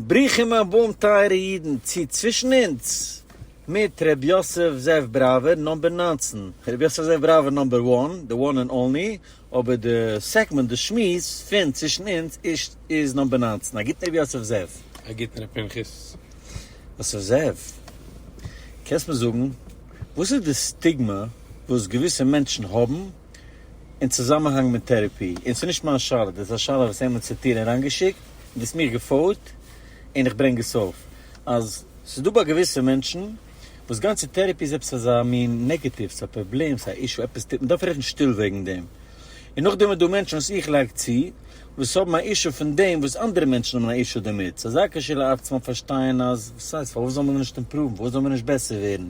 ברוכים הבאים טייערע אידן צו צווישן אונז מיט ר' יוסף זאב בראווער נאמבער נײַנצן, ר' יוסף זאב בראווער נאמבער וואן, די וואן ענד אנלי, אבער די סעגמענט, די שמועס, פון צווישן אונז איז נאמבער נײַנצן, א גוטן ר' יוסף זאב. א גוטן ר' פנחס. יוסף זאב, קענסט מיר זאגן וואס איז די סטיגמע וואס געוויסע מענטשן האבן? אין צוזאמענהאנג מיט טערעפי, און ס'איז נישט מיין שאלה, דאס איז א שאלה וואס איינמאל ס'האט איר אריינגעשיקט און דו האסט מיך געפאוט און איך ברענג עס אויף, אז ס'איז דא ביי געוויסע מענטשן וואס גאנצע טערעפי איז עפעס אזא מין נעגעטיווס, א פראבלעם, ס'איז א אישו, עפעס טוט, מ'דארף רעדן שטיל וועגן דעם. און נאכדעם איז דא מענטשן וואס איך לייג צו, וואס האבן א אישו פון דעם וואס אנדערע מענטשן האבן א אישו דערמיט, ס'איז אזא כשלעצמם פארשטייען אז, וואס הייסט, פארוואס זאלן מיר נישט אימפראוון, פארוואס זאלן מיר נישט בעסער ווערן?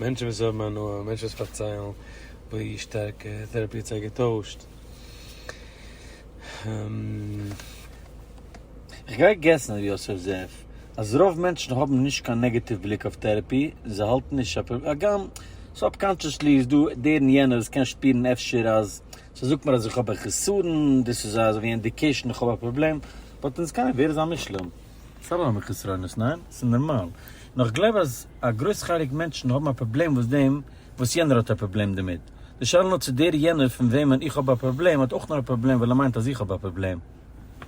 מענטשן וואס האבן הנאה, מענטשן וואס פארציילן ווי שטארק טעראפי האט זיי געטוישט. איך גיי געסן ר' יוסף זאב אז רוב מענטשן האבן נישט קיין נעגעטיוו בליק אויף טעראפי, זיי האלטן נישט א פראבלעם, הגם סובקאנטשעסלי איז דא דער און יענער וואס קען שפירן אפשר אז ס'זאגט מיר אז איך האב א חסרון, דאס איז אזויווי אינדיקעישן איך האב א פראבלעם, באט אין סקיי ווער איז א מושלם? ס'איז אלעמאל מיט חסרונות, ניין? ס'איז נארמאל. נאר איך גלייב אז א גרויס חלק מענטשן האבן א פראבלעם וואס דעם וואס יענער האט א פראבלעם דערמיט. די שאלה נאר צו דער יענער פון וועמען איך האב א פראבלעם האט אויך נאר א פראבלעם ווייל ער מיינט אז איך האב א פראבלעם.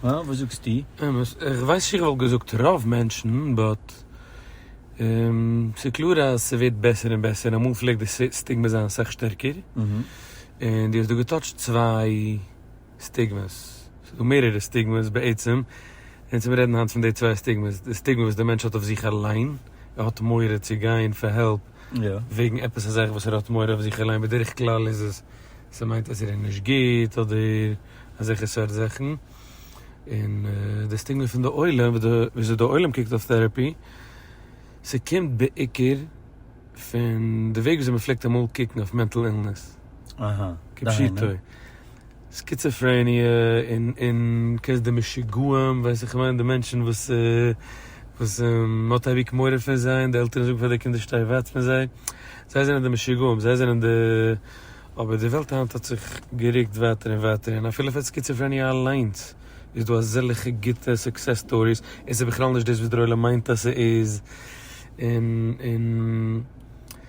הא? וואס זאגסטו? אמת, איך ווייס נישט איך וואלט געזאגט רוב מענטשן, באט ס'איז קלאר אז ס'ווערט בעסער און בעסער, אמאל פלעגט די סטיגמע זיין אסאך שטערקער, און דו האסט דא געטאטשט צוויי. סטיגמעס. ס'איז דא מערערע סטיגמעס בעצם, און צו מיר רעדן היינט פון די צוויי סטיגמעס, די סטיגמע וואס די מענטש האט אויף זיך אליין, ער האט מורא צו גיין פאר העלפ וועגן עפעס א זאך וואס ער האט מורא אויף זיך אליין, בדרך כלל איז עס ס'מיינט אז ער איז נישט גוט אדער אזעלכע סארט זאכן, און די סטיגמע פון די עולם וויאזוי די עולם קוקט אויף טעראפי, ס'קומט בעיקר פון די וועג וויאזוי מ'פלעגט אמאל קוקן אויף מענטל אילנעס. אהה. כפשוטו. סקיצעפרעניע און און כעס די משוגעים ווייס איך מיין די מענטשן וואס וואס מ'האט אייביג מורא פון זיי און די עלטערן זאגן פאר די קינדער שטיי ווייט פון זיי. זיי זענען די משוגעים זיי זענען די. אבער די וועלט היינט האט זיך גערוקט ווייטער און ווייטער און אפילו פאר סקיצעפרעניע אליינס איז דא אזעלכע גוטע סוקסעס סטאריס און ס'איז בכלל נישט דאס וואס דער עולם מיינט אז ס'איז און און.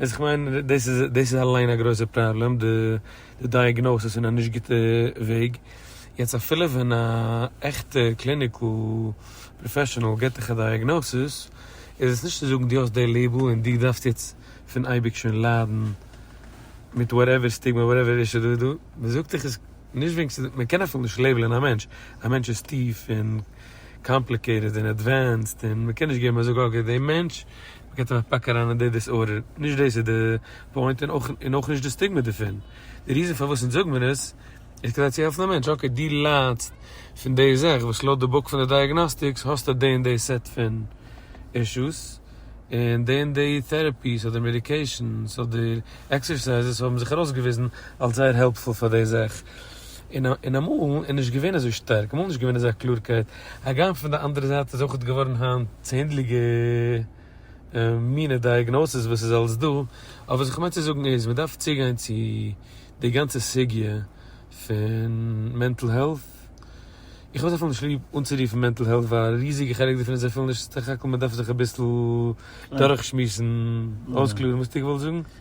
איז איך מיין דאס איז דאס איז אליין א גרויסע פראבלעם די די דייעגנאסיס אין א נישט גוטע וועג, יעצט אפילו ווען א עכטע קליניקל פראפעשענעל גיבט דיך א דייעגנאסיס איז עס נישט צו זאגן דו האסט די לעיבל און דו דארפסט יעצט פון אייביג שוין ליידן מיט וואטעווער סטיגמע וואטעווער אישו דא איז דא, מען זאגט דיך עס נישט וועגן ס'איז מען קען אפילו נישט לעיבלען א מענטש, א מענטש איז טיף און קאמפליקעיטעד און עדווענסד און מען קען נישט געבן מען זאגט אקעי די מענטש מ'קען זיך פאקן אריין אין די דיסארדער, נישט דאס איז די פוינט און אויך און אויך נישט די סטיגמע דערפון, די ריזען פארוואס אונז זאג מיר עס איז כדי צו העלפן א מענטש, אקעי דו ליידסט פון די זאך וואס לויט די בוק פון די דייעגנאסטיקס האסטו די און די סעט פון אישוס, און די און די טערעפיס אדער מעדיקעישאנס אדער עקסערסייזעס האבן זיך ארויסגעוויזן אלס זייער העלפפול פאר די זאך. און אמאל איז נישט געווען אזוי שטארק, אמאל איז נישט געווען אזא קלארקייט, הגם פון די אנדערע זייט איז אויך געווארן היינט צענדליגע מינע דייעגנאסיס וואס איז אלס דא, אבער וואס איך מיין צו זאגן איז, מען דארף צוגיין צו די גאנצע סוגיא פון מענטל העלט, איך האב זייער פיל נישט ליב אנצורופן מענטל העלט ווייל א ריזיגע חלק דערפון איז זייער פיל נישט, סך הכל מען דארף זיך אביסל דורכשמועסן, אויסקלארן וואס טו געוואלט זאגן?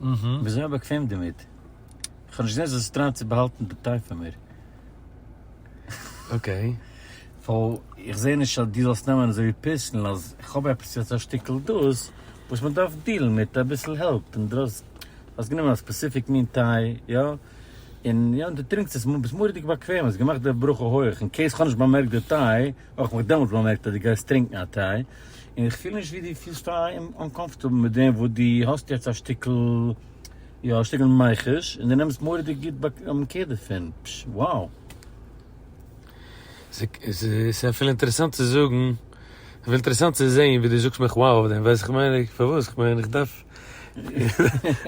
מ'איז זייער באקוועם דערמיט. כ'האב נישט געזען אז עס טרייט צו באהאלטן די טיי פון מיר. אקעי. סאו, איך זע נישט אז דו זאלסט נעמען אזוי פערסענעל אז כ'האב עפעס יעצט א שטיקל דאס וואס מ'דארף דילן מיט אביסל העלפ, און דו האסט גענומען א ספעסיפיק מין טיי, יא? און יא, און דו טרינקסט עס, און ביסט מורא'דיג באקוועם, האסט געמאכט די ברכה הויעך, אין קעיס כ'האב נישט באמערקט די טיי, האב איך מיך דעמאלטס באמערקט אז דו גייסט טרינקן א טיי. און איך פיל נישט ווי דו פילסט אנקאמפארטעבל מיט דעם וואס דו האסט יעצט א שטיקל, יא, א שטיקל מיחוש, און דו נעמסט מורא'דיג גוט קעיר דערפון. פש, wow! ס'איז אפילו אינטערעסאנט צו זאגן, אפילו אינטערעסאנט צו זען ווי דו זאגסט מיך wow אויף דעם, ווייסט איך מיין איך, פארוואס? איך מיין איך דארף,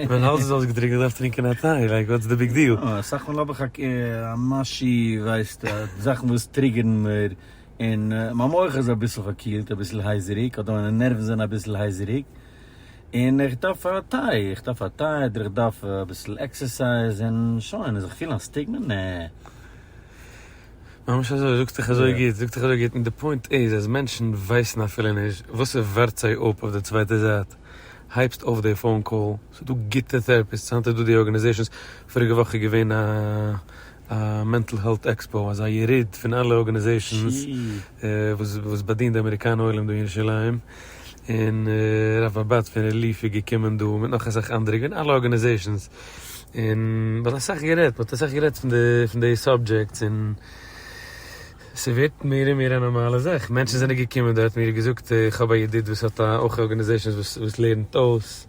מיין האלז איז אויסגעטרוקנט, איך דארף טרינקען א טיי, לייק וואטס די ביג דיעל? יא, אסאך מאל האב איך א משהו, ווייסטו, זאכן וואס טריגערן מיר. און מיין מח איז אביסל פארקילט, אביסל הייזעריג, אדער מיינע נערוון זענען אביסל הייזעריג, און איך דארף א טיי, איך דארף א טיי, אדער איך דארף אביסל עקסערסייז, און שוין, און זיך פילן א סטיגמע? נע. ממש אזוי, זאגסט דיך אזוי גוט, זאגסט דיך אזוי גוט, און די פוינט איז אז מענטשן ווייסן אפילו נישט וואס ס'ווארט זיי אפ אויף די צווייטע זייט, הייבסט אויף די פאון קאל, ס'איז דא גוטע טערעפיסטס, היינט איז דא די ארגענעזעישאנס, פאריגע וואך איז געווען א א מענטל העלט עקספאו, אזא יריד פון אלע ארגענעזעישאנס וואס וואס באדינט די אמעריקאנע עולם דא אין ירושלים, און הרב אבד פון רעליף איז געקומען דא, מיט נאך אסאך אנדערע, געווען אלע ארגענעזעישאנס, און מ'האט אסאך גערעדט, מ'האט אסאך גערעדט פון די פון די סאבדזשעקטס, און ס'ווערט מער און מער א נארמאלע זאך, מענטשן זענען געקומען דארט, מיר געזאגט איך האב א ידיד וואס האט א אויך ארגענעזעישאנס וואס וואס לערנט אויס.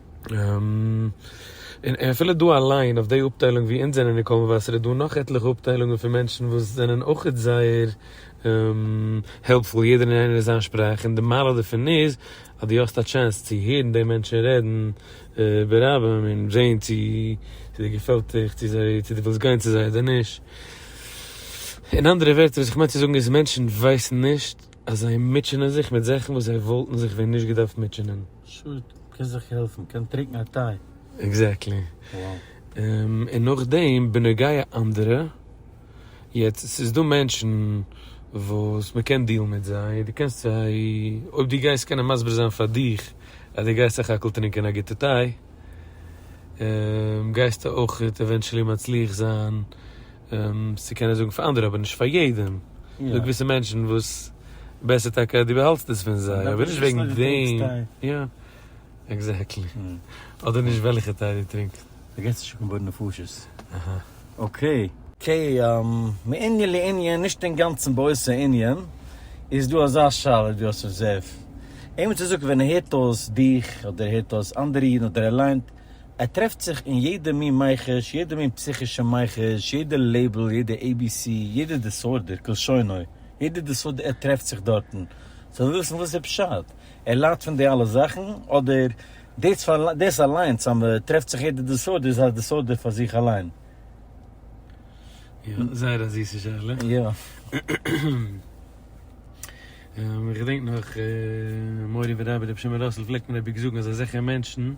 און אפילו דא אליין אויף די אפטיילונג ווי אונז זענען אין קאלמובאסער איז דא נאך עטליכע אפטיילונגען פון מענטשן וואס זענען אויכעט זייער העלפפול יעדער און איינער אין זיין שפראך און די מעלה דערפון איז אז דו האסט א טשענס צו הערן די מענטשן רעדן ברבים און זעהן צו די געפעלט דיך צו זיי צו די ווילסט גיין צו זיי אדער נישט אין אנדערע ווערטער וואס איך מיין צו זאגן איז מענטשן ווייסן נישט אז זיי מוטשענען זיך מיט זאכן וואס זיי וואלטן זיך ווען נישט געדארפט מוטשענען. שוט, קענסט זיך העלפן, קען טרינקן א טיי. עקזעקטלי. און נאכדעם בנוגע אנדערע, יעצט ס'איז דא מענטשן וואס מ'קען דילן מיט זיי, דו קענסט זיי, אויב דו גייסט קענען מסביר זיין פאר דיך אז דו גייסט סך הכל טרינקען א גוטע טיי, גייסטו אויך עווענטשעלי מצליח זיין. צו קענען זאגן פאר אנדערע אבער נישט פאר יעדעם, ס'דא געוויסע מענטשן וואס בעסער טאקע אז דו באהאלטסט דאס פון זיי, אבער נישט וועגן דעם, יא, עקזעקטלי, אדער נישט וועלכע טיי דו טרינקסט. דא גייסטו שוין קומען בין נפשות. אקעי. אקעי, מענין לענין, נישט אינגאנצן באותו ענין, איז דא אזא שאלה ווי דו האסט אבזערווד, איינמאל צו זאגן ווען ער הערט אויס דיך אדער ער הערט אויס אנדערע אידן אדער ער ליינט ער טרעפט זיך אין יעדע מין מיחוש, יעדע מין פסיכישע מיחוש, יעדע לעיבל, יעדע עי בי סי, יעדע דיסארדער, כלשונו, יעדע דיסארדער, ער טרעפט זיך דארטן. ס'זאל וויסן וואס איז פשט? ער ליידט פון די אלע זאכן? אדער דאס אליינס אז מען טרעפט זיך יעדע דיסארדער איז א דיסארדער פאר זיך אליין? יא, זייער א זיסע שאלה. יא. און איך געדענק נאך מורי ורבי רבי שמעון ראסל פלעגט מיר אייביג זאגן אז אזעלכע מענטשן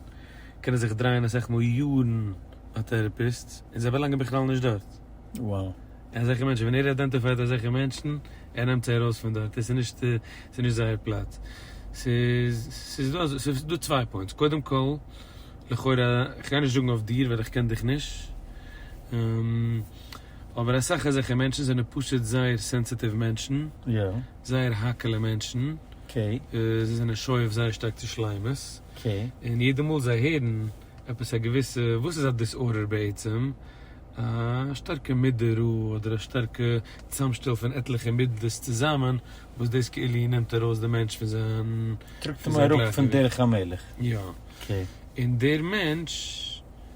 קענען זיך דרייען אסאך מאל יארן ביי טעראפיסטס און זיי באלאנגען בכלל נישט דארט. וואו. אזעלכע מענטשן ווען ער איידענטיפייט אזעלכע מענטשן ער נעמט זיי ארויס פון דארט עס איז נישט עס איז נישט זייער פלאץ. ס'איז ס'איז דא אזוי ס'איז דא צוויי פוינטס קודם כל לכאורה כ'גיי נישט זאגן אויף דיר ווייל איך קען דיך נישט. אבער אסאך אזעלכע מענטשן זענען פשוט זייער סענסיטיוו מענטשן, זייער האקעלע מענטשן, זיי זענען שואף זייער שטארק צו שלימות, און יעדע מאל זיי הערן עפעס א געוויסע, וואס איז א דיסארדער בעצם? א שטארקע מידע רע אדער א שטארקע צוזאמשטעל פון עטליכע מידות צוזאמען, וואס דאס כאילו נעמט ארויס די מענטש פון זיין גלייכגעוויכט. טראגט אים אראפ פון דרך המלך. יא. און דער מענטש.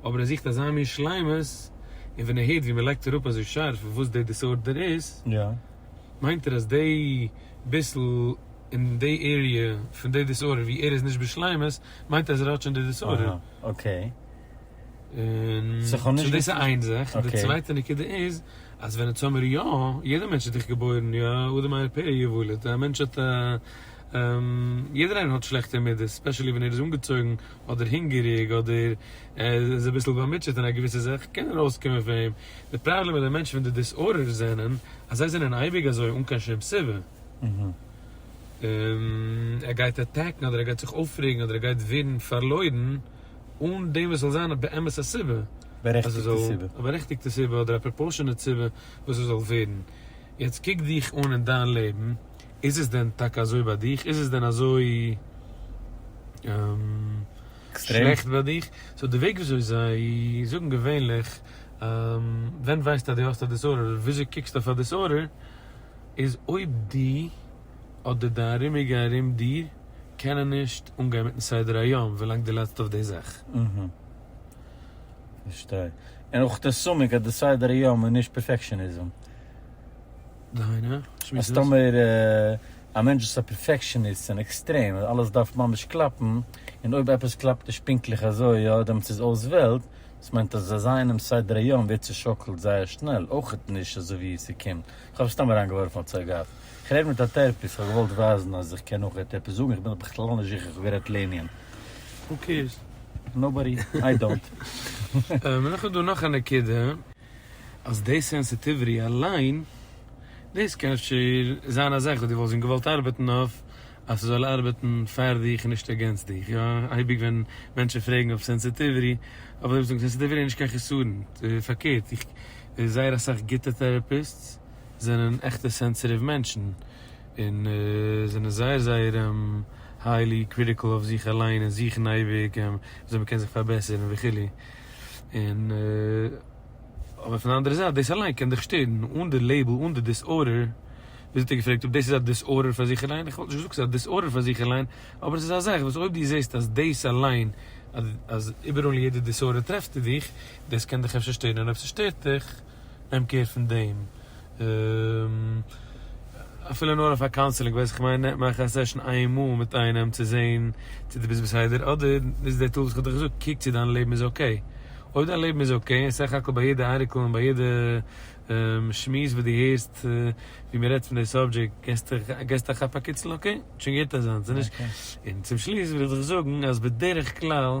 אבער ער זוכט אזא מין שלימות, און ווען ער הערט ווי מען לייגט אראפ אזוי שארף וואס די דיסארדער איז, מיינט ער אז די ביסל אין די עריע פון די דיסארדער ווי ער איז נישט בשלימות, מיינט ער אז ער האט שוין די דיסארדער. און סאו דאס איז איין זאך. און די צווייטע נקודה איז, אז ווען עטס האמיר יא, יעדער מענטש איז דאך געבוירן, יא אדם על פי אשר יוולד, א מענטש האט א, יעדער איינער האט שלעכטע מידות, ספעשעלי ווען ער איז אנגעצויגן, אדער הונגעריג אדער ער איז אביסל באמוטשעט אין א געוויסע זאך קען ארויסקומען פון אים, די פראבלעם מיט די מענטשן פון די דיסארדערס זענען אז זיי זענען אייביג אזוי אן קיין שום סיבה, און ער גייט אטעקן אדער ער גייט זיך אויפרעגן אדער ער גייט ווערן פארלוירן אן דעם וואס ס'זאל זיין באמת א סיבה, א בארעכטיגטע סיבה אדער א פראפארשענעט סיבה וואס עס זאל ווערן, יעצט קוק דיך אן אין דיין לעבן. איז עס דען טאקע אזוי ביי דיך? איז עס דען אזוי שלעכט ביי דיך? סאו די וועג וויאזוי זיי זאגן געווענליך ווען ווייסטו אז דו האסט א דיסארדער אדער וויאזוי קוקסטו אויף א דיסארדער איז אויב דו אדער די ארומיגע ארום דיר קענען נישט אנגיין מיטן סדר היום ווילאנג דו ליידסט אויף די זאך. אהה. פארשטיי. און אויך די סמק אז די סדר היום איז נישט פערפעקשאניזם. דהיינו? אז טאמער א מענטש איז א פערפעקשעניסט און עקסטרעם אז אלעס דארף ממש קלאפן, און אויב עפעס קלאפט נישט פונקטליך אזוי יא דעמאלטס איז אויס וועלט, דאס מיינט אז אזא אינעם סדר היום ווערט צושאקלט זייער שנעל, אויכעט נישט אזוי ווי עס ס'קומט, איך האב סתם אריינגעווארפן א צויי גאף, איך רעד מיט א טערפיסט, איך האב געוואלט ווייזן אז איך קען אויכעט עפעס זאגן, איך בין דאך בכלל נישט זיכער איך האב גערעדט לענין. הו קעירס? נאובאדי, איי דאנט. מ'נאך איז דא נאך א נקודה. אז דעי סענסיטיוויטי אליין, דאס קען אפשר זיין א זאך וואס דו וואלסט ווען געוואלט ארבעטן אויף אז ס'זאל ארבעטן פאר דיך און נישט אגענסט דיך, יא אייביג ווען מענטשן פרעגן אויף סענסיטיוויטי, אויף דעם זאגן סענסיטיוויטי איז נישט קיין חסרון, פארקערט איך זייער אסאך גוטע טעראפיסטס זענען עכטע סענסיטיוו מענטשן און זענען זייער זייער היילי קריטיקל אויף זיך אליין און זוכן אייביג וויאזוי מ'קען זיך פארבעסערן וכו'. און אבער פון די אנדערע זייט דאס אליין קען דיך שטערן אן די לעיבל אן די דיסארדער, וויאזוי האט ער געפרעגט אויב דאס איז א דיסארדער פאר זיך אליין, איך וואלט נישט געזאגט ס'איז א דיסארדער פאר זיך אליין, אבער עס איז א זאך וואס אויב דו זעסט אז דאס אליין אז איבעראל אין יעדע דיסארדער טרעפסטו דיך, דאס קען דיך אפשר שטערן און אויב ס'שטערט דיך, נעם קער פון דעם, אפילו נאר אויף א קאונסעלינג ווייס איך כ'מיין, מאך א סעשאן איינמאל מיט איינעם צו זעהן צו דו ביסט בסדר, אדער נוץ די טולס וואס כ'האב דיך געזאגט, קוק צו דיין לעבן איז אקעי, אויב דיין לעבן איז אקעי, און סך הכל ביי יעדע ארטיקל און ביי יעדע שמועס וואס דו הערסט ווי מען רעדט פון די סאבדזשעקט געסטו א כאפ א קיצל, אקעי, האט שוין געהערט אזאנס, און צום שלוס וויל איך דיך זאגן אז בדרך כלל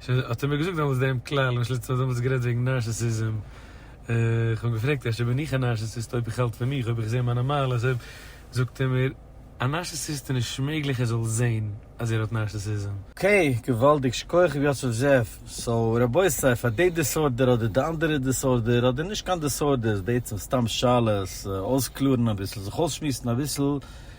שוין האט ער מיר געזאגט דעמאלטס דעם כלל, למשל יעצט האט ער דעמאלטס גערעדט וועגן נארסיסיזם, איך האב אים געפרעגט אפשר בין איך א נארסיסיסט אויב איך האלט פון מיך, אויב איך זע מיינע מעלות, אויב, זאגט ער מיר, א נארסיסיסט איז נישט מעגליך ער זאל זען אז ער האט נארסיסיזם. אקעי, געוואלדיג, שכוח הרב יוסף זאב, סאו רבותי פאר די דיסארדער אדער די אנדערע דיסארדער, אדער נישט קיין דיסארדערס, בעצם סתם שאלות, אויסקלארן אביסל, זיך אויסשמועסן אביסל,